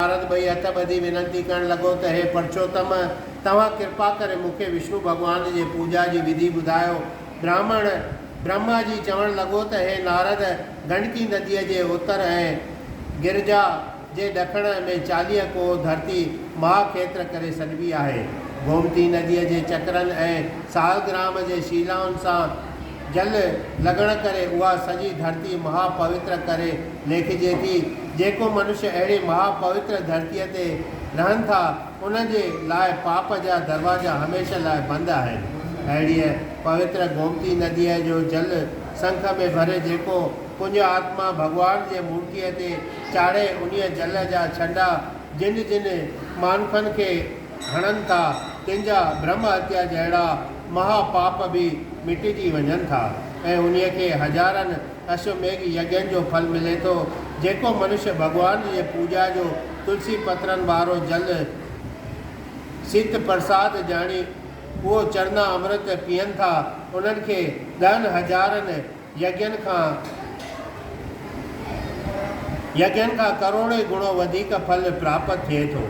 نارد ٻئي هٿ ٻڌي وينتي ڪرڻ لڳو ته هي پرشوتم! توهان ڪرپا ڪري مون کي وشنو ڀڳوان جي پوڄا جي وڌي ٻڌايو. براهمڻ برهما جي چوڻ لڳو ته هي نارد! گنڊڪي نديء جي اتر ۽ گرجا جي ڏکڻ ۾ چاليهه ڪوهه ڌرتي مها کيتر ڪري سڏبي آهي. گومتي نديء جي چڪرن ۽ سالگرام جي شيلائن سان، جل لڳڻ ڪري اها سڄي ڌرتي مها پوتر ڪري ليکجي ٿي. جيڪو منشي اهڙي مها پوتر ڌرتيء تي رهن ٿا، انهن جي لاء پاپ جا دروازا هميشه لاء بند آهن. اهڙيء پوتر گومتي نديء جو جل سنک ۾ ڀري جيڪو پڃ آتما ڀڳوان جي مورتيء تي چاڙهي، انهيء جل جا ڇنڊا جن جن مانکن کي، هڻن ٿا، تن جا برهما هتيا جهڙا مها پاپ به مٽجي وڃن ٿا ۽ انهيء کي هزارن اشوميگھ يجن جو ڦل ملي ٿو، جيڪو منشيه ڀڳوان جي پوڄا جو تلسي پترن وارو جل سيت پرساد ڄاڻي اهو چرنا امرت پيئن ٿا، انهن کي ڏهن هزارن يگين کان يگين کان ڪروڙين گڻو وڌيڪ ڦل پراپت ٿئي ٿو.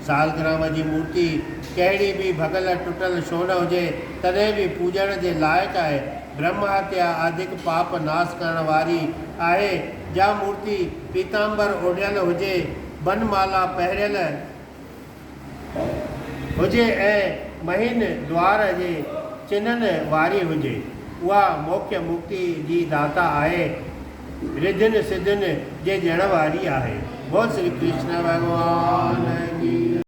سالگرام جي مورتي ڪهڙي به ڀڳل ٽٽل ڇو نه هجي تڏهن به پوڄڻ جي لائق آهي. برهمهتيا آڌڪ پاپ ناس ڪرڻ واري آهي. جا مورتي پيتامبر اوڍيل هجي، بنمالا پهريل، هجي ۽ مهين دوار جي چنن واري هجي، اها موکيه مڪتيء جي داتا آهي، رڌين سڌين جي ڏيڻ واري آهي. بول شري ڪرشن ڀڳوان جي.